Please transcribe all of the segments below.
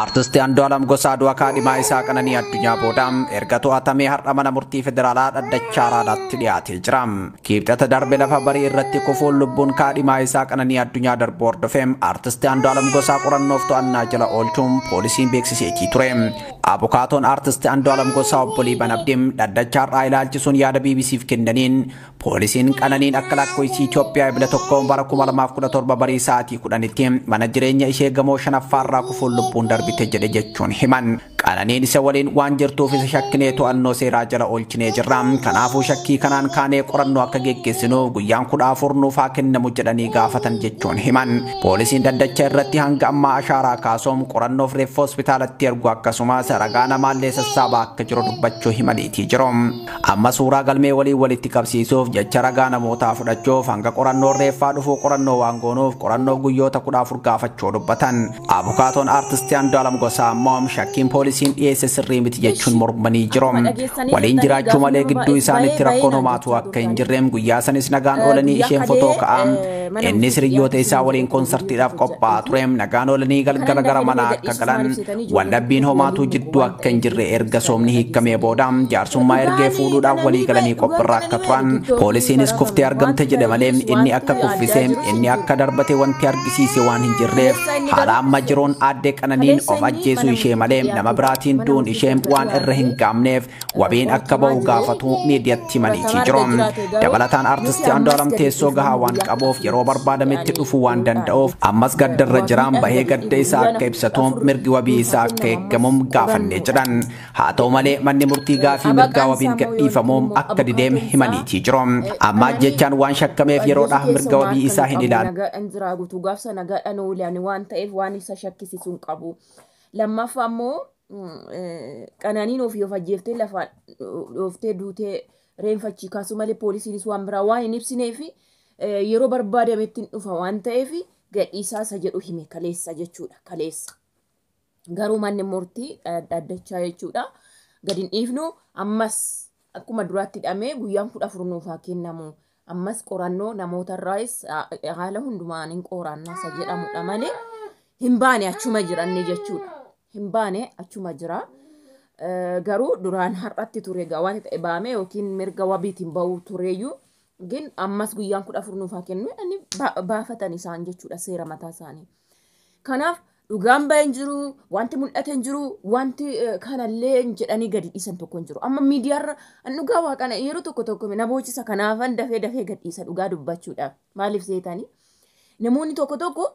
Artisti Andu'alam Gosaa du'a kaadhimaa isaa Qananii Addunyaa booda erga to'atamee har'a mana murtii federaalaa dhaddacha Araadaatti dhiyaatee jira. Kiibxata darbe lafa barii irratti kufuun lubbuun kaadhimaa isaa Qananii Addunyaa darbuu hordofee Artisti Andu'alam Gosaa qorannoof to'annaa jala oolchuun poolisiin beeksiseetii ture. Abukaatoon Artisti Andu'alam Gosaa obbo Liiban Abdiim dhaddacha har'aa ilaalchisuun yaada BBC'f kennaniin Poolisiin Qananiin akka lakkoofsi Itoophiyaa Ebla 1 bara 2017 barii sa'aatii 10tti mana jireenya ishee gamoo shanaffaarraa kufuun lubbuun darbite jedhe jechuun himan. Qananiin isa waliin waan jirtuuf isa shakkinee to'annoo seeraa jala oolchinee jirra. Kanaafuu shakkii kanaan kaanee qorannoo akka geggeessinuuf guyyaan 14 nuuf haa kennamu jedhanii gaafatan jechuun himan. Poolisiin dhaddacha irratti hanga ammaa ashaaraa kaasuun qorannoof reeffa hospitaalatti ergu akkasumas ragaa namaallee sassaabaa akka jiru dubbachuu himaniitii jiru. Amma suuraa galmee waliin walitti qabsiisuuf jecha ragaa namootaa fudhachuuf hanga qorannoon reeffaa dhufuu qorannoo waan goonuuf qorannoo guyyoota 14 gaafachuu dubbatan. Abukaatoon Aartisti Andu'aalam Gosaa ammoo shakkiin poolisiin dhiyeesse sirrii miti jechuun mormanii jiru. Waliin jiraachuu malee gidduu isaaniitti rakkoon homaatu akka hin jirre guyyaa sanis nagaan oolanii isheen fotoo ka'aa innis hiriyyoota isaa waliin konsartiidhaaf qophaa'aa ture nagaan oolanii galgala gara manaa akka galan Waldhabbiin homaatuu jidduu akka hin jirre erga soomni hiikamee booda jaarsummaa ergee fuudhuudhaaf walii galanii qophirra akka turan poolisiinis kuftee argamte jedhe malee inni akka kuffise inni akka darbate wanti argisiise waan hin jirreef haala amma jiruun aadde qananiin of ajjeesuu ishee malee nama biraatiin du'uun ishee waan irra hin gaamneef wabiin akka ba'u gaafatu miidiyatti himaniitii jiru. Dabalataan artisti Andu'aalam teessoo gahaa waan qabuuf yeroo barbaadametti dhufuu waan danda'uuf ammas gaddarra jiraan bahee gadda isaa akka ibsatu mirgi wabii isaa akka eegamuuf gaafannee jedhan. Haa ta'u malee manni murtii gaafii mirgaa wabiin gadhiifamuuf akka dideem himaniitii jiru. Amma ajjechaan waan shakkameef yeroodhaaf mirga wabii isaa hin ilaalu. Nagaadhaan jiraa guutuu gaafsa nagaadhaan oole ani waan ta'eef waan isa shakkisiisu hin qabu. Lammaffaa immoo qananiin ofii of ajjeeftee lafaa dhooftee duutee reenfachii kaasuu malee poolisiinis waan biraa waan hin ibsinee fi yeroo barbaadametti hin dhufa waan ta'eef gadhiisaa isa jedhu hime kaleessa jechuudha kaleessa. Garuu manni murtii dhaddachaa jechuudha gadi hin dhiifnu ammas akkuma duraatti hidhamee guyyaan 14 nuuf haa kennamu. Ammas qorannoo namoota irraayis haala hundumaan hin qooraannaa isa jedhamudha malee hin baane achuma jiranne jechuudha. Hin baane achuma jira. Garuu duraan har'atti ture egaa waan ta'e baame yookiin mirga wabiitiin ba'uu tureeyyuu gin ammas guyyaan 14 nuuf haa kennu jedhanii baafatan isaan jechuudha seera mataa isaanii. Kanaaf dhugaan ba'e hin jiru, wanti mul'ate hin jiru, wanti eh, kanallee hin jedhanii gadi dhiisan tokko hin jiru. Amma miidiyaarra an dhugaa waaqana yeroo tokko tokko na boochisa kanaafan dafee dafee gad dhiisa dhugaa dubbachuudhaaf. Maaliif seetanii? Namoonni tokko tokko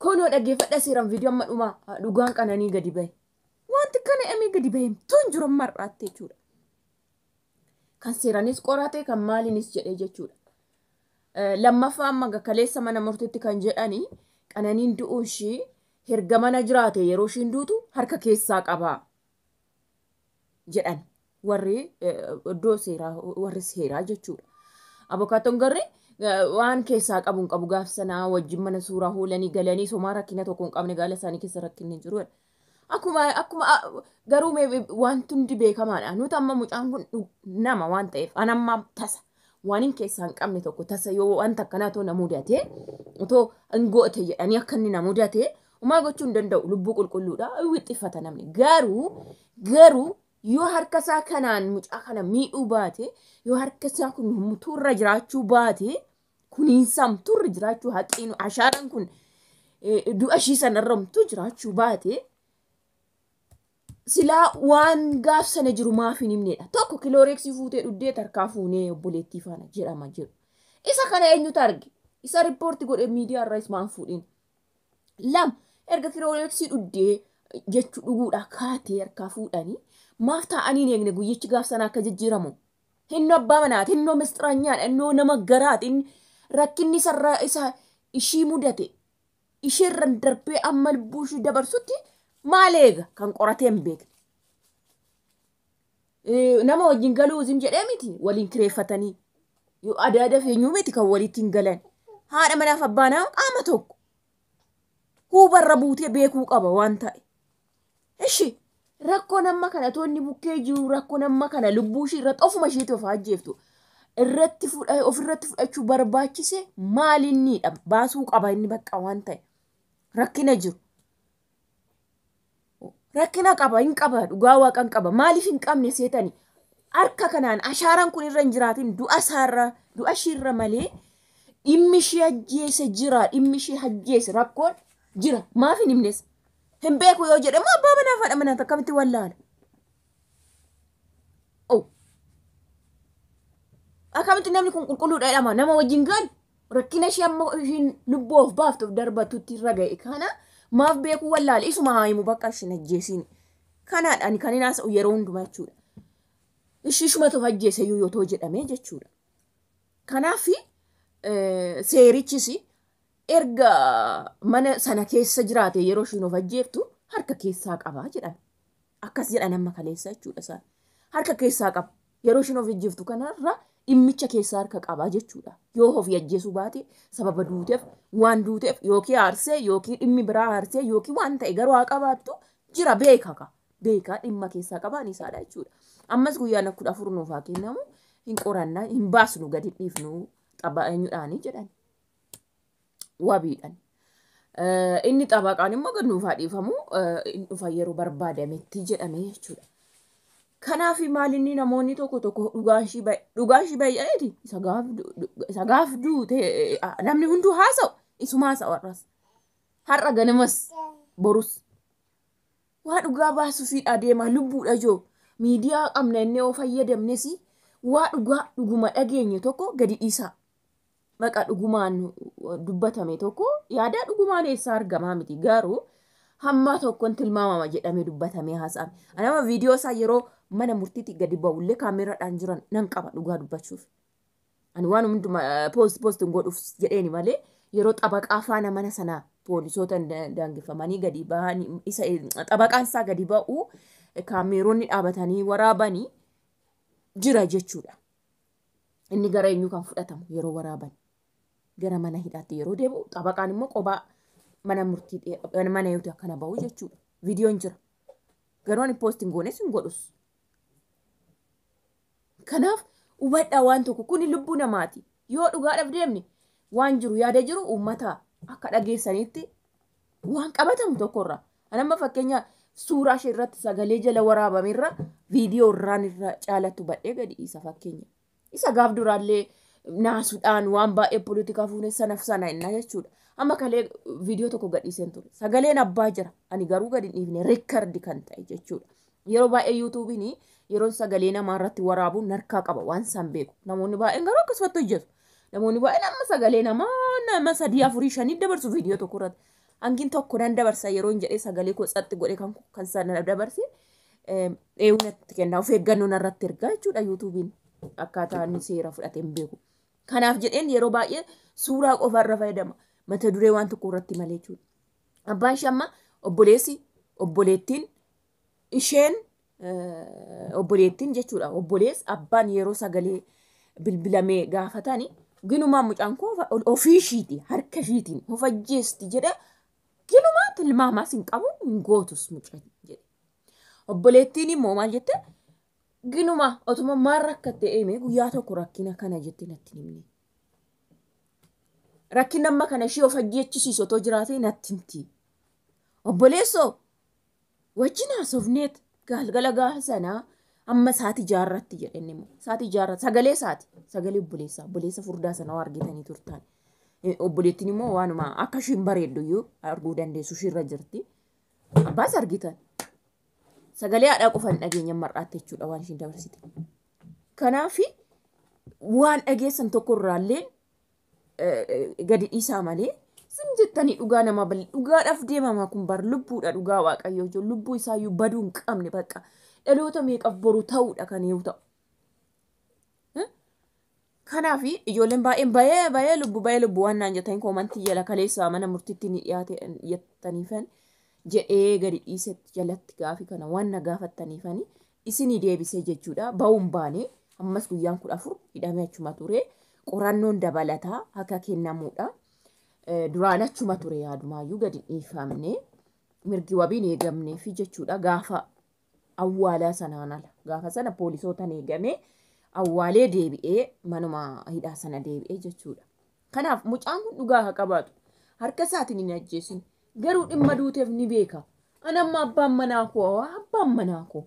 kunoo dhaggeeffadha seeraan viidiyoo amma dhumaa ah, dhugaan qananii gadi ba'e. Wanti kana amee gadi ba'e himtuu hin jiru amma har'aatti jechuudha. Kan seeranis qorate kan maaliinis jedhee jechuudha. Lammaffaa amma ga kaleessa mana murtitti kan jedhani qananiin du'uun ishii herga mana jiraate yeroo ishiin duutu harka keessaa qabaa jedhan warri iddoo seeraa warri seeraa jechuudha. Abokaattoon garri waan keessaa qabu hin qabu gaaf sanaa wajjin mana suuraa hoolanii galanii somaa rakkina tokko hin qabne gaala isaanii keessa rakkinni jiru. Akkuma akkuma a- garuu mee be- wanti hundi beekamaadha. Nuti amma mucaan kun dhu- nama waan ta'eef an amma tasa waan hin keessaa hin qabne tokko tasa yoo wanta akkanaa too na mudate otoo hin goote jedhanii akka inni na mudate umaa gochuu hin danda'u lubbuu qulqulluudha wixxiffata namni garuu garuu yoo harka isaa kanaan mucaa kana miidhuu baate yoo harka isaa kun mutuurra jiraachuu baate kuniinsaam turre jiraachuu haqeenu ashaaraan kun eh, du'a ishii sanarramtu jiraachuu baate silaa waan gaaf sana jiru maaf hin himneedha. Tokko kilooreeksii fuutee dhuddee tarkaa fuunee obboleettii faana jedhama jedhu. Isa kana eenyutu arge? Isa riippoorti godhe miidiyaa irraa ismaan fuudhin. Lama erga kilooreeksii dhuddee jechuu dhuguudhaa kaatee harkaa fuudhanii maaf taa'anii hin eegne guyyichi gaaf sana akka jijjiiramu Innoo abbaa manaati, innoo misxiranyaadha, innoo nama garaati. Inni rakkinni isarra isa ishii mudate isheerran darbee amma lubbuu ishii dabarsutti maal eega kan qoratee hin beekne. Eh, Nama wajjin galuu isin jedhee miti waliin kireeffatanii. Yoo Aadaa aadaa feenyuu miti kan walitti hin galan. Haadha manaaf abbaa manaa qaama tokko. Huubarra buutee beekuu qaba waan ta'e. Ishi rakkoon amma kana toonni bukkee jiru rakkoon amma kana lubbuu ishii irratti ofuma ishiitti of ajjeeftu irratti fudha ofirratti fudhachuu barbaachise maal inniidha baasuu qaba inni bakka waan ta'e rakkina jiru. Rakkina qaba hin qaba dhugaa waaqa hin qaba maaliif hin qabne seetani harka kanaan ashaaraan kun irra hin jiraatin du'a isaarra du'a ishiirra malee dhimmi ishii ajjeese jira dhimmi ishii ajjeese rakkoon jira maaf hin himnes hin beeku yoo jedhe immoo abbaa manaaf haadha manaati akkamitti wallaala? Oh. Akkamitti namni kun qulqulluudha jedhama nama wajjin gaal rakkina ishee amma ishiin lubbuu of baaftuuf darbatutti irra ga'e kana maaf beekuu wallaale isuma haa himu bakka isin ajjeesiin kanaadha ani kan hin haasa'u yeroo hundumaa jechuudha. Ishii ishumatu ajjeese iyyuu yoo ta'u jedhamee jechuudha. Kanaaf seerichis erga mana sana keessa jiraate yeroo ishiin of ajjeeftu harka keessaa qaba jedhan. Akkas jedhan amma kaleessa jechuudha isaan. Harka keessaa qaba. Yeroo ishiin of ajjeeftu kanarra dhimmicha keessaa harka qaba jechuudha. Yoo ofii ajjeesuu baate sababa duuteef waan duuteef yookiin aarsee yookiin dhimmi biraa aarsee yookiin waan ta'e garuu haa qabaattu jira beeka ka. Beekaa dhimma keessaa qabaan isaadha jechuudha. Ammas guyyaan kudha afur nuuf haa kennamu hin qorannaa hin baasnu gadi dhiifnu xabaa eenyudhaanii jedhan. wabiidhan. Eh, Inni xabaqaan immoo gad nuuf haa dhiifamu eh, hin dhufa yeroo barbaadametti jedhame jechuudha. Kanaaf maalinni namoonni tokko tokko dhugaan ishii bay- dhugaan ishii bayya'eeti isa gaaf du- du- isa gaaf duute eh, ah, namni hunduu haasa'u isuma haasa'u har'as har'a ganamas borus waa dhugaa baasuufiidha adeemaa lubbuudha joo miidiyaa qabna inni yoo fayyadamnes waa dhugaa dhuguma dhageenye tokko gadi dhiisaa maqa dhugumaan dubbatame tokko yaadaa dhugumaan eessaa argamaa miti garuu hammaa tokkon tilmaamama jedhamee dubbatamee haasa'ame. Ani amma viidiyoo isaa yeroo mana murtiitti gadi ba'ullee kaameeraadhaan jiran nan qaba dhugaa dubbachuuf. Ani waan hunduma poost poost hin godhuuf jedheeni malee yeroo xabaqaa faana mana sana poolisoota da- daangeffamanii gadi ba'an isa xabaqaan isaa gadi ba'u kaameeronni dhaabatanii waraabanii jira jechuudha. Inni gara eenyuu kan fudhatamu yeroo waraaban gara mana hidhaatti yeroo deebi'u xabaqaan immoo qobaa mana murtii dhee- mana eeguuti akkana ba'u jechuudha. Viidiyoon jira. Garuu ani poosti hin goones hin godhus. Kanaaf hubadhaa waan tokko kuni lubbuu namaati. Yoo dhugaadhaaf deemne waan jiru yaada jiru uummata akka dhageessaniitti waan qabatamu tokko irraa an amma fakkeenya suuraa ishee irratti sagalee jala waraabame irra viidiyoo irraan irra caalatu badhee gadi isa fakkeenya isa gaaf duraallee naasuudhaan waan baay'ee poolitikaa fuunee sanaf sana innaa jechuudha amma kalee viidiyoo tokko gadhiiseen ture sagaleen abbaa jira ani garuu gadi hin dhiifne riikardi kan ta'e jechuudha Yeroo baay'ee yuutuubiin yeroon sagalee namaa irratti waraabu narkaa qaba waan isaan beeku. Namoonni baay'een garuu akkasumatti hojjetu. Namoonni baay'een amma sagalee namaa nama sadii afurii shanii dabarsu viidiyoo tokko irratti. Hangiin tokko nan dabarsa yeroon jedhee sagalee koo tsatti godhe kan kan sana dabarse dheewu natti kenna of eeggannoo narratti ergaa jechuudha yuutuubiin akkaataa inni seera fudhatee hin beeku. Kanaaf jedheen yeroo baay'ee suuraa qofa irra fayyadama mata duree waan tokko irratti malee jechuudha. Abbaan ishee amma obboleessi obboleettiin isheen obboleettiin jechuudha obbolees abbaan yeroo sagalee bilbilamee gaafatani ginumaan mucaan koo ofii ishiiti harka ishiitiin of ajjeesti jedhe ginumaa tilmaamaas hin qabu hin gootus mucaan jedhe obboleettiin immoo maal jette ginuma otuma maal rakkatte eemee guyyaa tokko rakkina kana jette natti himne rakkinni amma kana ishii of ajjeechisiisu otoo jiraatee natti himti obboleessoo wajjin haasofneet gaalgala gaafa sanaa amma saati jaarratti jedhe inni immoo saati jaarra sagalee saati sagalee obboleessaa obboleessa furdaa sana waa argitanii turtaan Eh, obboleettiin immoo waanuma akka ishiin bareeddu iyyuu arguu dandeessu ishiirra jirti abbaas argitan sagalee haadhaa qofan dhageenya mar'aatte jechuudha waan ishiin dabarsite kanaafi waan dhageessan tokko irraallee gadi dhiisaa malee zim jettanii dhugaa namaa bal dhugaadhaaf deemamaa kun bar lubbuudha dhugaa waaqayyoo jechuun lubbuu isaayyuu baduu hin qabne bakka dhaloota meeqaf boru ta'uudha kan yoo ta'u. Kanaaf ijoolleen baay'een bayee bayee lubbu bayee lubbu waan naan jettanii koomantii jala kaleessaa mana murtiitti ni dhiyaate jettaniifan jedhee gadi dhiisetti jalatti gaafi kana waan na gaafattaniifani isinii deebisee jechuudha ba'uu hin baane ammas guyyaan 14 hidhamee achuma ture qorannoon dabalataa akka kennamuudha Eh, duraan achuma ture yaadumaayyuu gadi hin dhiifamne mirgi wabiin eegamnee fi jechuudha gaafa awwaalaa sanaan ala gaafa sana poolisootaan eegamee awwaalee deebi'ee manuma hidhaa sana deebi'ee jechuudha kanaaf mucaan kun dhugaa haa qabaatu harka isaatiin hin ajjeesin Garuu dhimma duuteef ni beeka. An amma abbaan manaa koo waa abbaan manaa koo.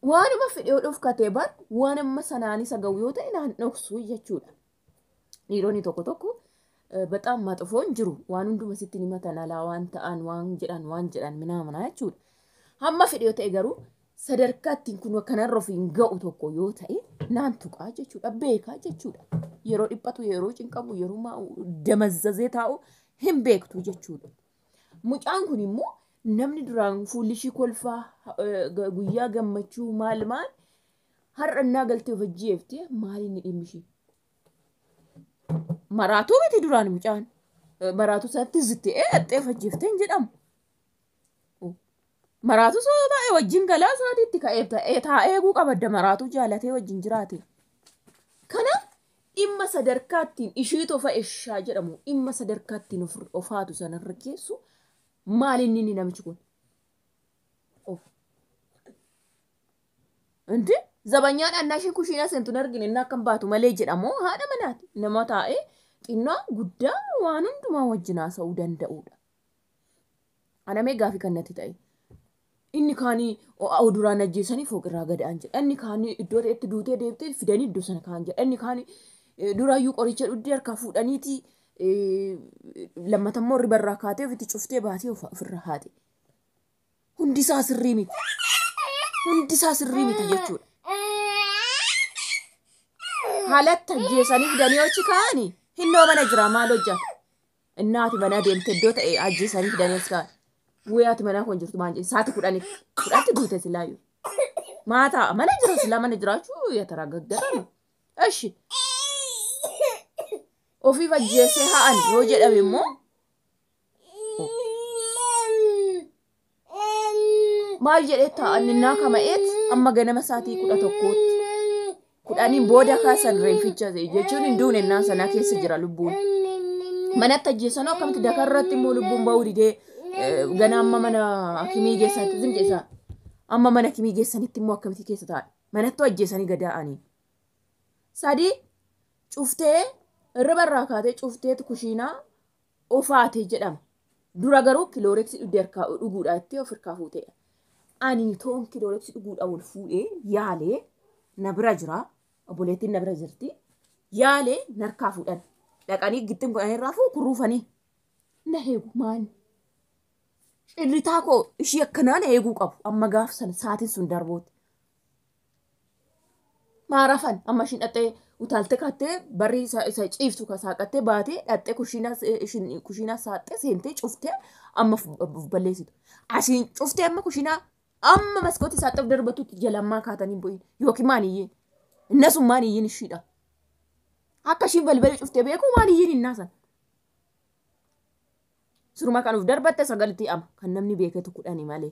Waanuma fedhe yoo dhofkatee bar waan amma sanaan isa ga'u yoo ta'e naan dhoksu jechuudha. Dhiironni tokko tokko eh, baxaam maxofoon jiru waan hunduma sitti himatan alaa waan ta'an waan jedhan waan jedhan minaa minaa jechuudha. Hamma fedhe yoo ta'e garuu sadarkaa ittiin kun kanarra ofiin ga'u tokko yoo ta'e naan tuqaa jechuudha beekaa jechuudha. Yeroo dhiphatu yeroo cinqamu yeroo maa'u damazzazee taa'u hin beektu jechuudha. Mucaan kun immoo namni duraan fuulli ishii kolfaa eh, ga- guyyaa gammachuu maal maal har'a innaa galtee of ajjeefte maal inni dhimmi ishii. Maraatuu miti duraan mucaan. Eh, Maraatuu isaatti zittee eh, axxee of ajjeefte hin jedhamu. Maraatuu soo taa'e wajjin galaa isaatii itti ka'ee ta'ee taa'ee eeguu qabadda maraatuu jaalatee wajjin jiraate. Kana dhimma sadarkaattiin ishii tofa eshaa jedhamu dhimma sadarkaattiin of ofaatu sanarra geessu maal inni inni namichi kun? Of. Inti zabanyaan annaa ishii kushiinaa seentu hin argine inni akkam baatu malee jedhamu haadha manaati. Nama taa'ee xinnaa guddaa waan hundumaa wajjin haasa'uu danda'udha. Anamee gaafii kan natti ta'e. Inni kaanii oduraan ajjeesanii fooqirraa gadaan jedha. Inni kaanii iddoo ta'etti duutee deebitee fidanii iddoo sana kaan jedha. Inni kaanii duraayyuu qoricha dhugdee harkaa fuudhaniiti lammatammoo ribarraa kaatee ofitti cuftee baatee ofirraa haate. Hundi isaa sirrii miti. Hundi isaa sirrii miti jechuudha. Haalatti ajjeesanii fidanii hoji kaanii hinnoo mana jira maal hojjata? Innaa ati manaa deemte iddoo ta'e ajjeesaniif Daniels kaan. Wee ati manaa kun jirtu maal jedhe saati kudhaniif kudhatti duute silaayu. Maataa mana jira silaa mana jiraachuu yataraa gaggara. Eshi ofiif ajjeesee ha'an yoo jedhame immoo maal jedhee taa'anninnaa kama'eet amma ganama saatii kudha tokkootti kudhaniin booda kaasan reeficha jechuun hin duune innaan sanaa keessa jira lubbuun manatti ajjeessanoo akkamitti dakaa irratti immoo lubbuun ba'uu didee gana amma mana akimii geessaatti zim jeessa amma mana akimii geessanitti immoo akkamitti keessa taa'e manattuu ajjeessanii gadaa'anii sadii cuftee irriba irraa kaatee cufteetu kushiinaa ofaate jedhama. Dura garuu kilooreksi dhugde harkaa dhuguudha jettee of harkaa fuuteedha. Ani toon kilooreksi dhuguudha wal fuudhee yaalee na bira jira. Obboleettiin na bira jirti. Yaalee narkaa fuudhan. Dhaqanii gittin godhanii irraa fuun kurruufanii. Na heegu maali? Cirritaa koo ishii akkanaa na heeguu qabu. Amma gaaf sana saatiin sun darbuuti. maarafan amma ishiin dhaxxee utaaltee kaattee barri isa isa ciiftu ka saaqattee baatee dhaxxee kushiinaa se- ishiin kushiinaa saaxxee seentee cuftee amma of- of balleessitu asiin cuftee amma kushiinaa amma maskootii saaxxee of darbatutti jalammaa kaatanii bu'in yookiin maaliyyeen inna sun maaliyyeen ishiidha akka ishiin balbala cuftee beekuu maaliyyeen innaa san suruma kan of darbatte sagalitti ama kan namni beeketu kudhani malee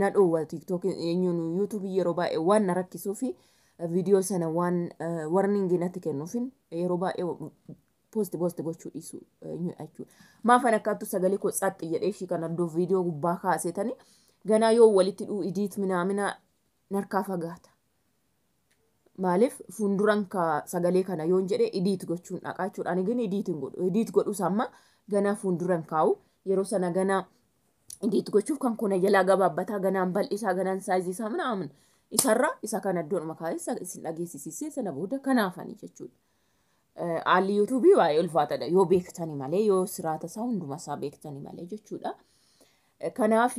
na dhoowwa tiktok eenyuun yuutuubii yeroo baay'ee waan na rakkisuu fi viidiyoo sana waan warningii natti kennuufin yeroo baay'ee poosti poosti gochuu dhiisu eenyu jechuudha. Maafan akkaattu sagalee koo tsaxxi jedhee ishii kana iddoo viidiyoo gubbaa kaasetani ganaa yoo walitti dhuu idiit minaaminaa narkaa fagaata. Maaliif fuunduran ka sagalee kana yoon jedhe idiit gochuun dhaqaa jechuudha. Ani gini idiit hin godhu. Idiit godhus amma ganaa fuunduran kaa'u. Yeroo sana ganaa idiit gochuuf kan kuna jalaa gabaabbataa ganaan bal'isaa ganaan saayizii isaa mana amin isarra isa kana iddoodhuma kaa'ee isin dhageessisisee sana booda kanaafani jechuudha. Haalli yuutuubii baay'ee ulfaatadha yoo beektani malee yoo siraata isaa hunduma isaa beektani malee jechuudha. Kanaaf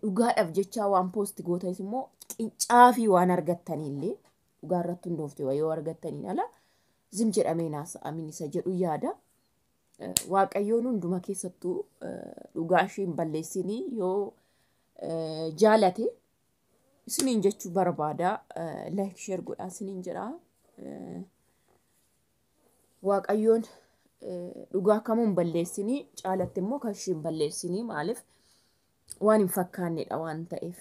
dhugaadhaaf jechaa waan poosti gootanis immoo qincaa fi waan argattanillee dhugaa irratti hundoofte yoo argattaniin ala zim jedhamee naasa amin isa jedhu yaada. Waaqayyoon hunduma keessattuu dhugaa ishee hin balleessinii yoo jaalate isiniin jechuu barbaada like share godhaa isiniin jedha waaqayyoon dhugaa kamuu hin balleessinii caalatti immoo kan ishee hin balleessinii maaliif waan hin fakkaannedha waan ta'eef.